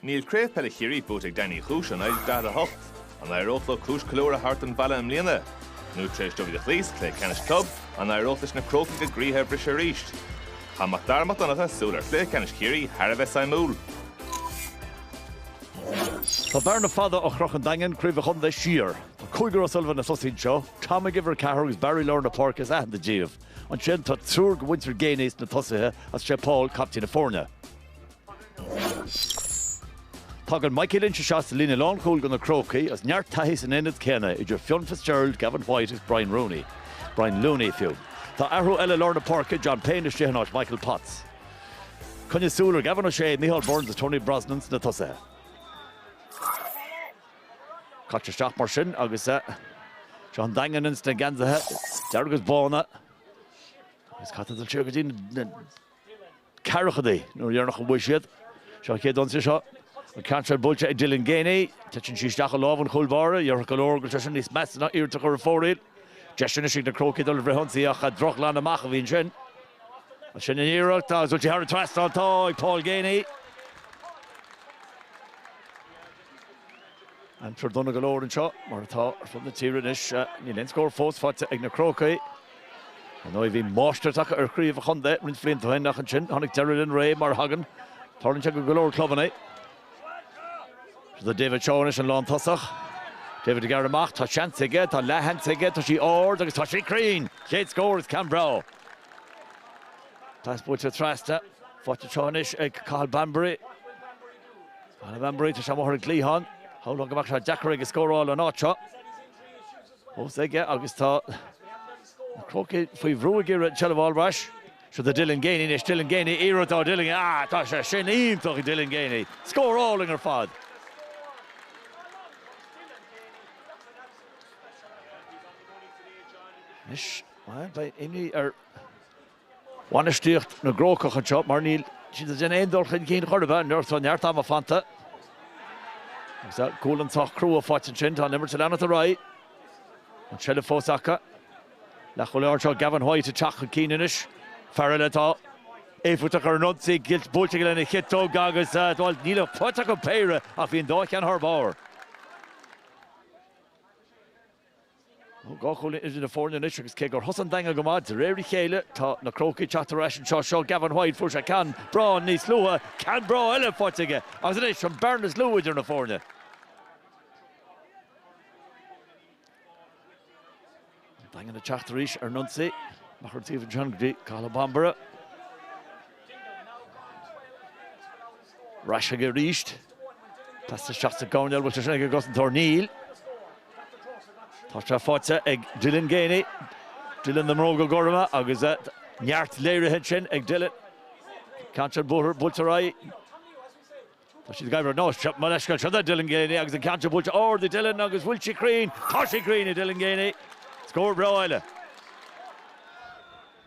Níl Craobh Peile Chiarraí buaite ag Daingean Uí Chúis ó 1948. An éireodh leo cúis ceiliúrtha a thabhairt chun an bhaile i mbliana? Nó tar éis dóibh iad a chloí sa chluiche ceannais club, an éireodh leis na Crócaigh a gcroíthe a bhriseadh arís? Chaith Mac Dara Mac Donncha súil ar chluiche ceannais Chiarraí thar a bheith suimiúil. Tá bearna fada ó chroch an Daingean Craobh an Chontae siar. Tá cúigear O'Sullivan ag tosaí anseo, Tom ag uimhir a ceathair agus Barry lár na páirce is aitheanta díobh. Ansin tá triúr de mhuintir Geaney sna tosaithe agus is é Paul captaen na foirne. Tagann Maidhcí Lynch isteach sa líne lánchúil do na Crócaigh agus neart taithí san aonad céanna idir Fionn Fitzgerald, Gavin White agus Brian Rooney, Brian Looney fiú. Tá athrú eile i lár na páirce, John Payne istigh in áit Michael Potts. Coinnigh súil ar Gavin O'Shea, Micheál Burns agus Tony Brosnan sna tosaithe. Caite isteach mar sin agus seo an Daingean ins na geansaithe dearg is bána agus caithfidh tú dul siar go dtí na ceathrachadaí an uair dheireanach a bhuaigh siad. Seo an chéad ionsaí seo. An ceann seo buailte ag Dylan Geaney. Titeann sí isteach i lámh an chúl báire. Dhéarfadh go leor go raibh sé sin níos measa ná iarracht a chur ar fóraoil. Deis anois ag na Crócaigh dul ar fhrithionsaí ach drochghlanadh amach a bhí ansin. Ansin an iarracht agus buailte thar an trasnán. Tá ag Paul Geaney. Aimsir dona go leor anseo, mar atá ar fud na tíre anois. Níl aon scór fós faighte ag na Crócaigh. Ar ndóigh, bhí máistreacht acu ar chraobh an chontae roinnt blianta ó shin ach ansin tháinig deireadh lena ré mar a thagann tarlaíonn ag go leor clubanna. Seo do David Shaw anois, an lántosach. David ag gearradh amach, tá seans aige, tá leathshans aige, tá sí ard agus tá sí cruinn! Chéad scór is ceann breá! Pas buailte trasna, faighte anseo anois ag Cathal Bambury. Cathal Bambury, tá sé amuigh ar an gcliathán. Shamhlóinn go mbeadh sé deacair aige scóráil ón áit seo. Fós aige agus tá na Crócaigh faoi bhrú ag iarraidh an tseilbh a fháil ar ais. Seo do Dylan Geaney anois, Dylan Geaney, iarracht ó Dylan, ah tá sé sin iontach ag Dylan Geaney. Scór álainn ar fad. Anois, bhuel, beidh imní ar bhainistíocht na gCrócach anseo mar níl siad ag déanamh aon dul chun cinn chor ar bith. Ar ndóigh tá neart ama fanta agus gualainn sách crua faighte ansin. Tá an imirt ag leanacht ar aghaidh. An tseilbh fós acu. Leathchúlaí láir anseo, Gavin White, ag teacht chun cinn anois. Fear eile atá éifeachtach ar an ionsaí. Cic buailte aige lena chiotóg agus, bhuel, níl faighte acu ach péire, ach bhí an dá cheann thar barr. Dhá chúilín idir na foirne anois agus cé gur thosaigh an Daingean go maith, de réir a chéile tá na Crócaigh ag teacht ar ais anseo. Seo Gavin White, fuair sé ceann breá níos luaithe, ceann breá eile faighte aige agus anois an bearna is lú idir na foirne. An Daingean ag teacht arís ar an ionsaí, amach ar an taobh an ceann go dtí Cathal Bambury. Ar ais chuige arís. Caite isteach sa gcoirnéal, bhfuil sé sin ag an gcosantóir? Níl. Tá sé faighte ag Dylan Geaney. Dylan na mbróga gorma agus neart léirithe ansin ag Dylan. Ceann sin buailte, buailte ar aghaidh. Tá siad ag éirí, ó gabh mo leithscéal, seo é Dylan Geaney agus an ceann sin buailte ard ag Dylan agus bhfuil sí cruinn, tá sí cruinn ag Dylan Geaney. Scór breá eile.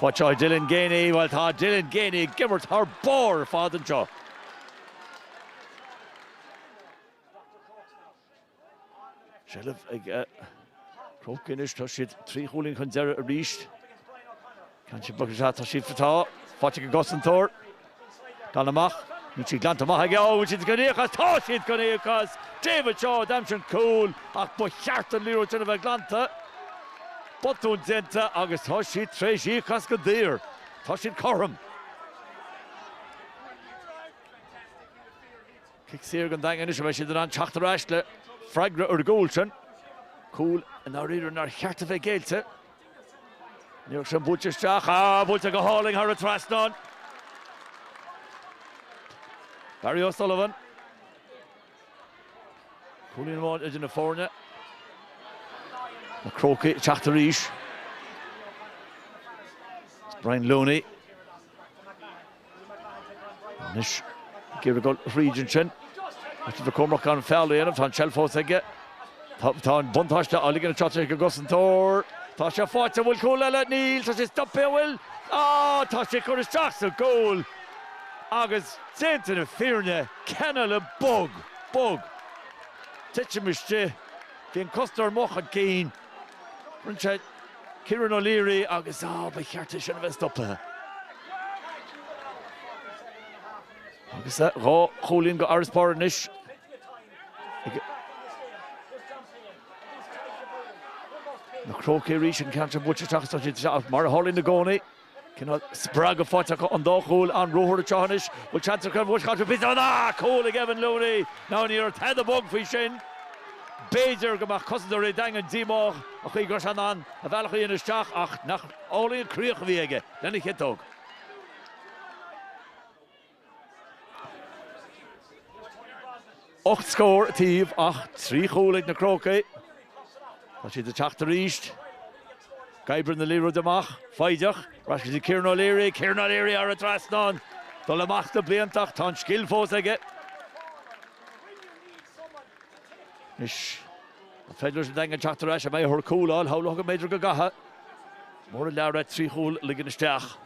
Faighte ag Dylan Geaney, bhuel tá Dylan Geaney ag imirt thar barr ar fad anseo. Seilbh ag Cróc anois, tá siad trí chúilín chun deireadh arís. Ceann sin buailte isteach, tá siad, tá, faighte ag an gcosantóir. Glan amach, níl sí glanta amach aige, ó bhfuil siad chun íoc as, tá siad chun íoc as! David Shaw, d'aimsigh an cúl ach ba cheart an liathróid sin a bheith glanta. Botún déanta agus tá siad tar éis íoc as go daor. Tá siad cothrom. Cic saor don Daingean anois a bheidh siad in ann teacht ar ais le freagra ar an gcúl sin. Cúl i ndáiríre nár cheart a bheith géillte. Liathróid sin buailte isteach, á, buailte go hálainn thar an trasnán. Barry O'Sullivan. Cúilín amháin idir na foirne. Na Crócaigh ag teacht arís. Brian Looney. Anois ag iarraidh dul thríd ansin. Caithfidh tú bheith cúramach gan feall a dhéanamh, tá an tseilbh fós aige. Tá an buntáiste á ligean anseo ag an gcosantóir. Tá sé faighte, an bhfuil cúl eile? Níl, tá sé stoptha, an bhfuil? Á, tá sé ag cur isteach sa gcúl! Agus déanta na fírinne, ceann eile bog, bog! Titim istigh, bhí an cosantóir amuigh chun cinn. Roimh Kieran O'Leary agus ah ba cheart é sin a bheith stoptha. Agus eh dhá chúilín d'fharasbarr anois ag na Crócaigh arís, an ceann sin buailte isteach sa chuid seo, mar a tharlaíonn i gcónaí. Cineál spreagadh faighte acu ón dá chúl, an ruathar seo anois. Bhfuil seans acu ar bhuaisc áit fiú? Ná cúl ag Evan Looney! Ná ní raibh tada bog faoi sin. B'fhéidir go mbeadh cosantóirí an Daingin díomách an chaoi go raibh sé in ann a bhealach a dhéanamh isteach ach nach álainn an críoch a bhí aige lena chiotóg. Ocht scór an taobh ach trí chúl ag na Crócaigh. Tá siad ag teacht arís. Ag oibriú na liathróide amach. Foighdeach. Ar ais go Kieran O'Leary. Kieran O'Leary thar an trasnán. Dul amach sna blianta ach tá an scil fós aige. Anois an féidir leis an Daingean teacht ar ais? An mbeidh orthu cúl a fháil? Shamhlódh go mb'fhéidir go gcaithfeadh. Mór an lear é trí chúl a ligean isteach.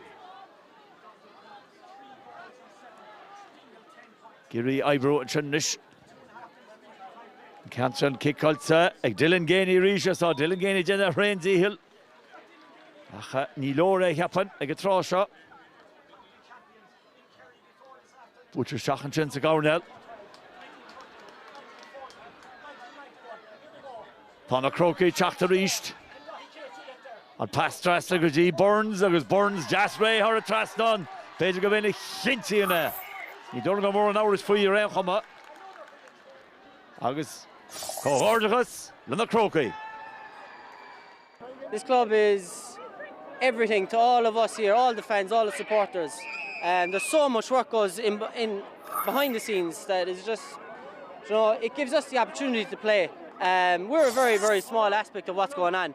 Ag iarraidh oibriú ansin anois. An ceann sin ciceáilte ag Dylan Geaney arís is tá Dylan Geaney ag déanamh a thréan dícheall ach ní leor é a cheapainn ag an tráth seo. Buaitear isteach ansin sa gcoirnéal. Tá na Crócaigh ag teacht arís. An pas trasna go dtí Burns agus Burns deas réidh thar an trasnán. B'fhéidir gurb é a chinntíonn é. Ní dóigh liom go raibh mórán amhrais faoi ar aon chuma. Agus comhghairdeachas le na Crócaigh. This club is everything to all of us here, all the fans, all the supporters. There's so much work goes in in behind the scenes that is just you know it gives us the opportunity to play. We're a very very small aspect of what's going on.